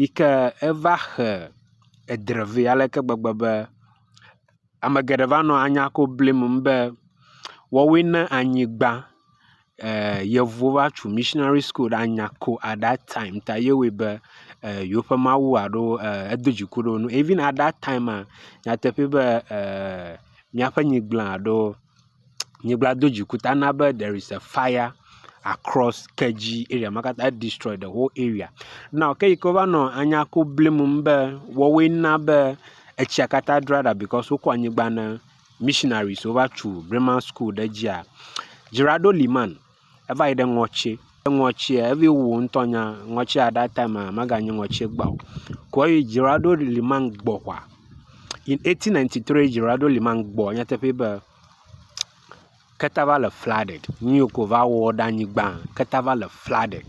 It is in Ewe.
yi ke eva xe edre vɛ ale ke gbegbe be ame geɖe va nɔ anya ko blim be woawoe ne anyigba e yevuwo va tu missionary school ɖe anya ko at dat time ta ye wɔe be e yewoƒe mawu alo e edo dziku ɖe wo ŋu. Even at dat time maa nyateƒee be e miaƒe nyigblẽ alo. nyigba do dzi ƒuta na be there is a fire across Kerdzi area ma katã. E destroy the whole area. Now ke yi ke wova nɔ anya ku blim ŋu be woawoe na be etsia katã dra ɖa because wokɔ anyigba na missionaries wova tu Bremen School ɖe edzia, Gerardo Limann. eva yi ɖe ŋɔtsi ke ŋɔtsia evi wu wo ŋutɔ nya ŋɔtsia at that time a meganyo ŋɔtsi gba o ko eyi dzroaɖo li man gbɔ ʋɔa in eighteen ninety three dzroaɖo li man gbɔ nyateƒe be keta va le flooded nuyi ke wova wɔ ɖe anyigbã keta va le flooded